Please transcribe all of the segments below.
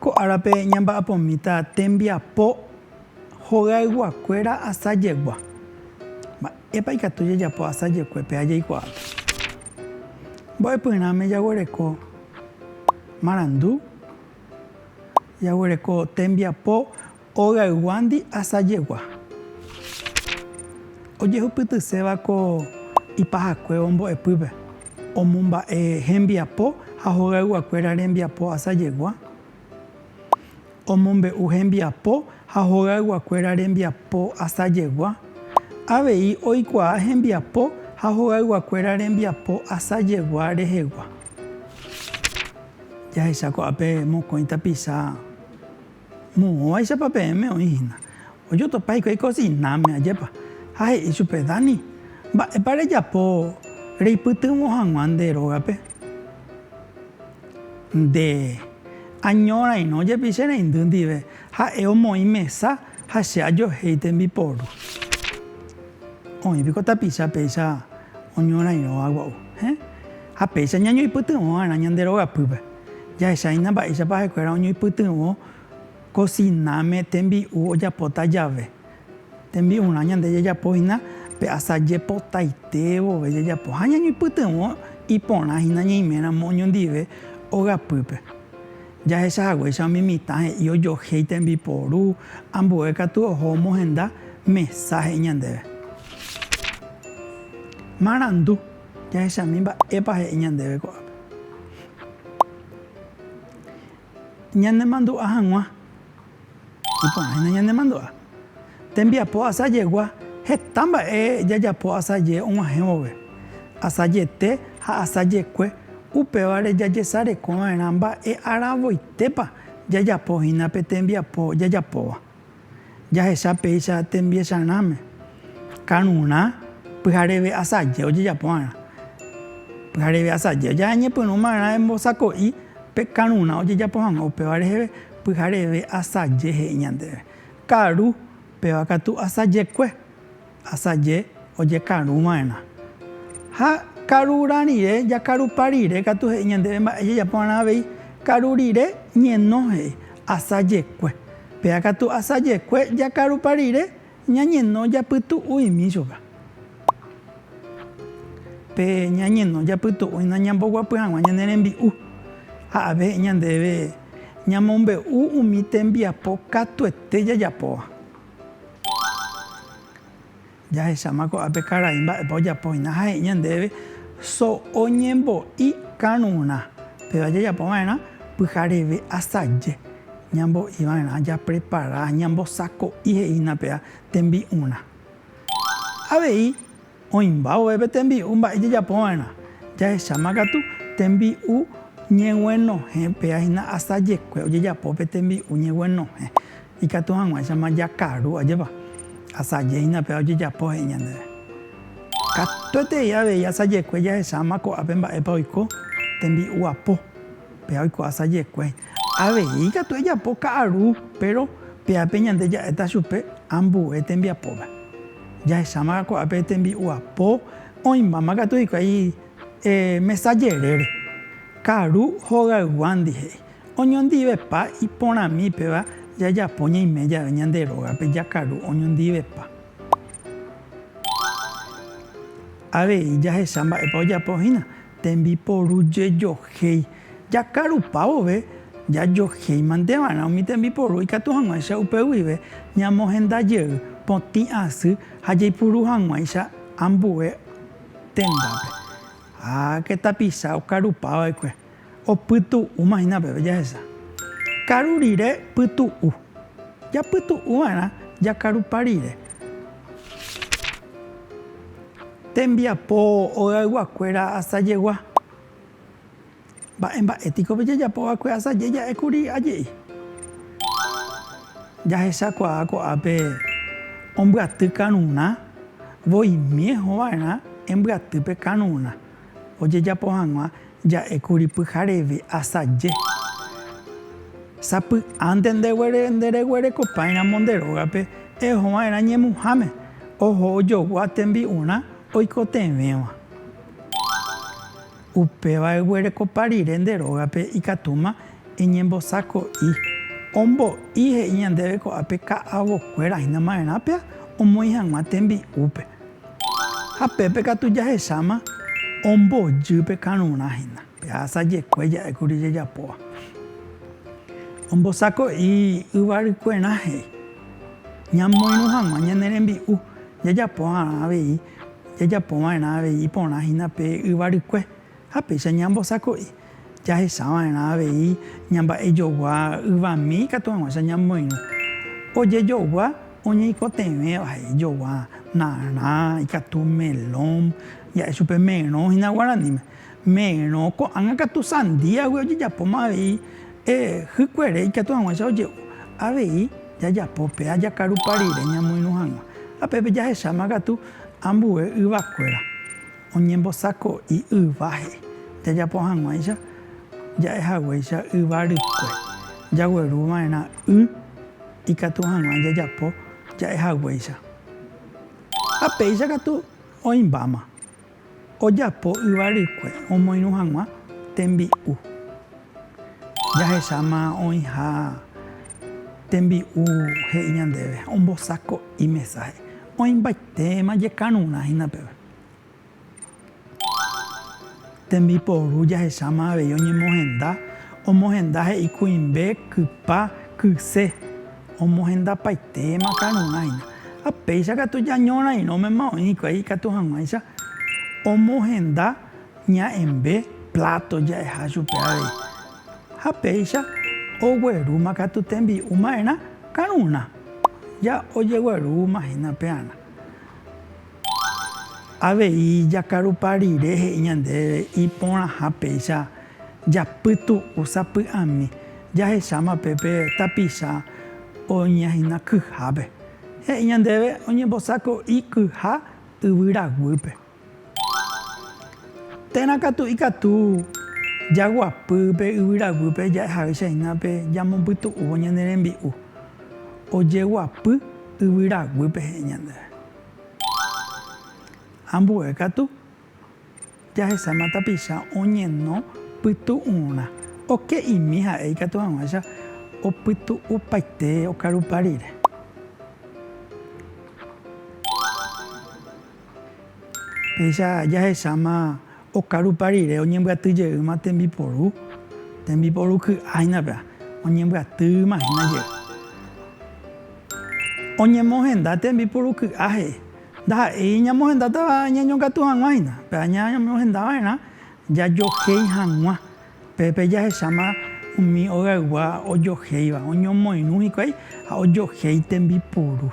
Ko árape ñamba'apomíta tembiapo hogayguakuéra asa jegua. Mba'épa ikatu jajapo asa jekuépe ha jaikuaápe? Mbo'epyrãme jaguereko marandu, jaguereko tembiapo. Ogayguandi asajegua. Ojehupytyséva ko ipahakuévo mbo'epýpe, omomba'e hembiapo ha hogayguakuéra rembiapo asajegua, omombe'u hembiapo ha hogayguakuéra rembiapo asajegua, avei oikuaa hembiapo ha hogayguakuéra rembiapo asajegua rehegua. Jahecha ko'ápe mokõi tapicha Moõvaichapa peẽme oĩ hína. Ojotopa hikuái kosináme, ajépa. Ha he'i chupe, Dani, mba'épa rejapo reipytyvõ hag̃ua nde rógape? Nde año rairõ jepi che reindy ndive, ha'e omoĩ mesa ha che ajohéi tembiporu. Oĩ piko tapicha péicha oñorairõva gua'u, héẽ? Ha péicha ñañoipytyvõ va'erã ñande rogapýpe. Jahechahína mba'éichapa ha'ekuéra oñoipytyvõ kosináme tembi'u ojapóta jave. Tembi'urã ñande jajapohína pe asa jepotaite vove jajapo ha ñañoipytyvõ iporãhína ñeiméramo oñondive ogapýpe. Jahecha haguéicha umi mitã he'i ojohéi tembiporu ambue katu oho omohenda mesa he'i ñandéve. Marandu. Jahechami mba'épa he'i ñandéve ko'ápe. Ñanemandu'a hag̃ua. Iporãhína ñanemandu'a. Tembiapo asajegua heta mba'e jajapo asaje og̃uahẽ vove, asajete ha asajekue, upévare jajesarekova'erã mba'e aravoitépa jajapo hína pe tembiapo jajapóva. jahecha péicha tembiecharãme, karurã pyhareve asaje ojejapo va'erã. Pyhareve asaje jañepyrũ va'erã embosako'i pe karurã ojejapo hag̃ua upéva reheve, pyhareve asaje he'i ñandéve. Karu, péva katu asajekue. Asaje ojekarũ va'erã. Ha karurã rire, jakarupa rire katu he'i ñandéve mba'e jajapo va'erã avei. Karu rire ñeno he'i, asa jekue. Péa katu asa jekue, jakarupa rire, ñañeno japytu'uimi chupe. Pe ñañeno japytu'uina ñamboguapy hag̃ua ñane rembi'u. Ha ave he'i ñandéve ñamombe'u umi tembiapo katuete jajapóva. Jahecháma ko'ápe karai mba'épa ojapo hína ha he'i ñandéve so oñembo'i karurã. Péva jajapo va'erã pyhareve asaje ñambo'i va'erã, japrepara, ñambosako'i he'i hína péva tembi'urã. Avei. Oĩmba ovépe tembi'u mba'e jajapova'erã, jahecháma katu tembi'u ñeguenohẽ, péa hína asajekue ojejapo pe tembi'u ñeguenohẽ, ikatu hag̃uáichama jakaru, ajépa? Asaje hína péva ojejapo he'i ñandéve. Katuetei avei asajekue jahecháma ko'ápe mba'épa oiko tembi'u apo, péa oiko asajekue. Avei katu ejapo ka'aru, péro pya'épe ñande ja'éta chupe ambue tembiapóva. Jahecháma ko'ápe tembi'uapo, oĩmbáma katu hikuái mesa jerére. Karu hogayguándi he'i, Oñondivepa iporãmi péva jajapo ñaime jave ñande rógape jakaru oñondivepa. Avei jahecha mba'épa ojapo hína, Tembiporu jejohéi. Jakarupa vove, jajohéi mante va'erã umi tembiporu ikatu hag̃uáicha upe guive ñamohenda jey potĩ asy ha jaipuru hag̃uáicha ambue tendápe. Háke tapicha okarupa va'ekue, opytu'úma hína peve jahecha. Karu rire pytu'u. Japytu'u va'erã jakarupa rire. Tembiapo ogaygua-kuéra asajegua. Mba'e mba'e piko pe jajapo va'ekue asaje ja'e kuri aje'i. Jahecha kuaa ko'ápe ombyaty karurã, voimie hova'erã embyaty pe karurã ojejapo hag̃ua Ja'ékuri pyhareve asaje. Sapy'ánte ndereguerekopáiramo nde rógape ehova'erã ñemuháme, oho ojogua tembi'urã oikotevẽva. Upéva eguerekopa rire nde rógape ikatúma eñembosako'i. Ombo'i he'i ñandéve ko'ápe ka'avokuéra hína ma'erãpea omoĩ hag̃ua tembi'úpe. Ha pépe katu jahecháma ombojy pe karurã hína, jahasa jekue ja'e kuri jejapóva. Ombosako'i yvarykuerã he'i, Ñamoirũ hag̃ua ñane rembi'u jajapo va'erã avei iporã hína pe yvarykue, Ha péicha ñambosako'i, jahechava'erã avei ñamba'ejogua yvami ikatu hag̃uáicha ñamoirũ. Ojejogua oñeikotevẽva, he'i jogua, narã, ikatu melón, ja'e chupe merõ hína guaraníme. Merõ, ko'ág̃a katu sandíagui ojejapóma avei hykuere ikatu hag̃uáicha oje'u. Avei jajapo pe ajakarupa rire ñamoirũ hag̃ua. Ha pépe jahecháma katu ambue yvakuéra. Oñembosako'i yváhe. Jajapo hag̃uáicha ja'e haguéicha yva rykue. Jagueru va'erã y ikatu hag̃ua jajapo ja'e haguéicha. Ha péicha katu oĩmbáma. Ojapo yva rykue omoirũ hag̃ua tembi'u. Jahecháma oĩha tembi'u he'i ñandéve, ombosako'i mesáhe. Oĩmbaitéma jekarurã hína peve. Tembiporu jahecháma avei oñemohenda, omohenda he'i kuimbe, kypa, kyse. Omohendapaitéma karurã hína. Ha péicha katu jañorairõmema oĩ hikuái ikatu hag̃uáicha omohenda ña'ẽmbe pláto ja'eha chupe avei. Ha péicha oguerúma katu tembi'u ma'erã karurã, ja ojeguerúma hína pearã. Avei jakarupa rire he'i ñandéve iporãha péicha japytu'u sapy'ami jahecháma pe pe tapicha oñehína kyhápe. He'i ñandéve oñembosako'i kyha yvyra guýpe. Térã katu ikatu jaguapy pe yvyra guýpe ja'ehaýicha hína pe jamombipytu'úvo ñane rembi'u. Ojeguapy yvyra guýpe he'i ñandéve. Ambue katu, jahesáma tapicha oñeno pytu'ũrã, oke'imi ha'e ikatu hag̃uáicha opytu'upaite okarupa rire. Péicha jahesáma Okarupa rire oñembyaty jeýma tembiporu, tembiporu ky'a hína péva, oñembyatýma hína jey. Oñemohenda tembiporu ky'a he'i, ndaha'éi ñamohendátava ñañongatu hag̃ua hína, péva ñamohenda va'erã jajohéi hag̃ua. Pépe jahecháma umi ogaygua ojohéiva, oñomoirũ hikuái ha ojohéi tembiporu.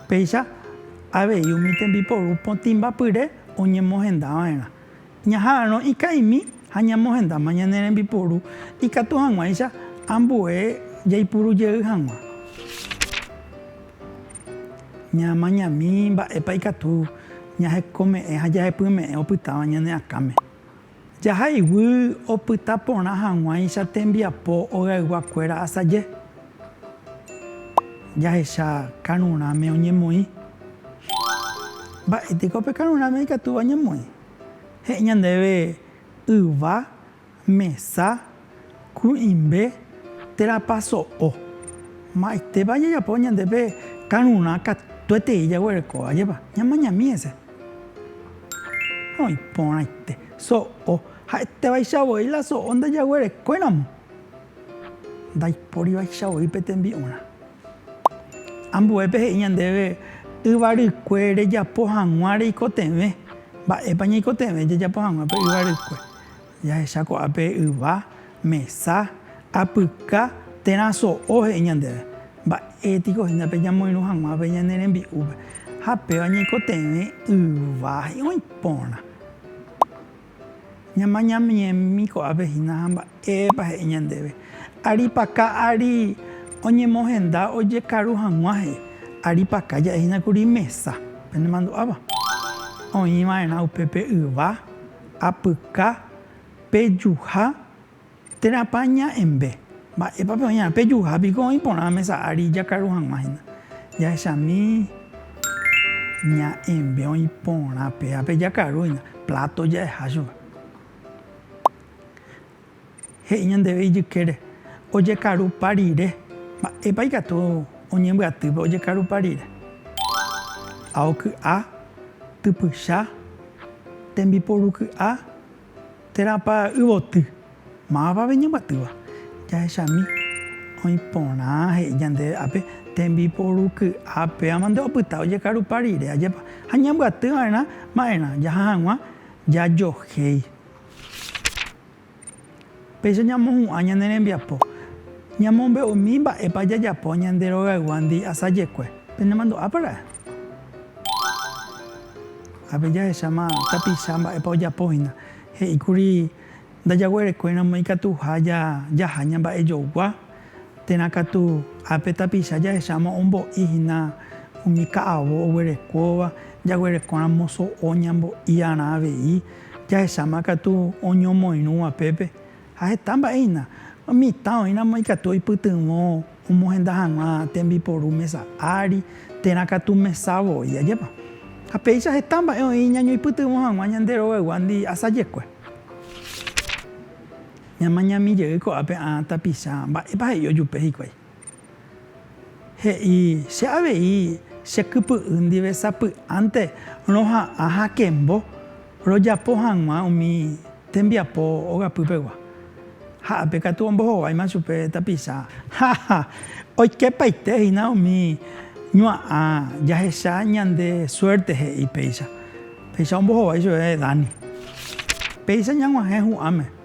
Péicha avei umi tembiporu potĩmbapyre oñemohendava'erã. Ñaha'arõ ika'imi ha ñamohendáma ñane rembiporu ikatu hag̃uáicha ambue jaipuru jey hag̃ua. Ñaamañami mba'épa ikatu ñahekome'ẽ ha jahepyme'ẽ opytáva ñane akãme. Jaha iguy opyta porã hag̃uáicha tembiapo ogaygua kuéra asaje. Jahecha karũrãme oñemoĩ. Mba'e teko pe karũrãme ikatúva oñemoĩ? He'i ñandéve yva, mesa, Kui'ĩmbe térãpa so'o. Mba'etépa jajapo ñande pe karurã katuetei jaguereko, ajépa? Ñamañami hese. Ha oĩ porãite. So'o. Ha'etévaicha voi la so'o ndajaguerekóiramo, ndaipórivaicha voi pe tembi'urã. Ambuépe he'i ñandéve yvarykue rejapo hag̃ua reikotevẽ. Mba'épa ñaikotevẽ jajapo hag̃ua pe yvarykue? Jahecha ko'ápe yva, mesa, apyka térã so'o he'i ñandéve. Mba'e piko hína pe ñamoirũ hag̃uápe ñane rembi'úpe? Ha péva ñaikotevẽ yva oĩ porã. Ñamañamiemi ko'ápe hína ha mba'épa he'i ñandéve. Aripaka ári oñemohenda ojekaru hag̃ua he'i. Aripaka ja'e hína kuri mesa. Penemandu'áva? Oĩ va'erã upépe yva. Apyka pejuha térãpa ña'ẽmbe. Mba'épa pe oñarã pejuha piko oĩ porã mesa ári jakaru hag̃ua hína. Jahechami ña'ẽmbe oĩ porã péva pe jakaru hína, pláto ja'eha chupe. He'i ñandéve ijykére, ojekarupa rire. Mba'épa ikatu oñembyatýpe ojekarupa rire? A. Oky'a, typycha, tembiporu ky'a, térãpa yvoty. Mávapa pe ñembyatýva? Jahechami oĩ porã he'i ñandéve ápe, tembiporu ky'a pévama nde opyta ojekarupa rire, ajépa? Ha ñambyaty va'erã ma'erã, jaha hag̃ua jajohéi. Péicha ñamohu'ã ñane rembiapo. Ñamombe'umi mba'épa jajapo ñande rogayguándi asajekue. Penemandu'ápara'e? Ápe jahecháma tapicha mba'épa ojapo hína. He'íkuri ndajaguerekuéramo ikatuha jaha ñamba'ejogua, térã katu ápe tapicha jahecháma ombo'i hína umi ka'avo oguerekóva, jaguerekóramo so'o ñambo'iarã avei. Jahecháma katu oñomoirũva pépe, ha heta mba'e hína. Mitã oĩramo ikatu oipytyvõ omohenda hag̃ua tembiporu mesa ári, térã katu mesa voi, ajépa? Ha péicha heta mba'e oĩ ñañoipytyvõ hag̃ua ñande roveguándi asajekue. Ñamañami jey ko'ápe ã tapicha, mba'épa he'i ojupe hikuái? He'i, Che avei che kypy'y ndive sapy'ánte roha'ã hakembo rojapo hag̃ua umi tembiapo ogapy pegua. Ha ápe katu ombohováima chupe tapicha. Haha, oikepaite hína umi ñua'ã jahecha ñande suerte he'i péicha. Péicha ombohovái chupe Dani. Péicha ñag̃uahẽ hu'ãme.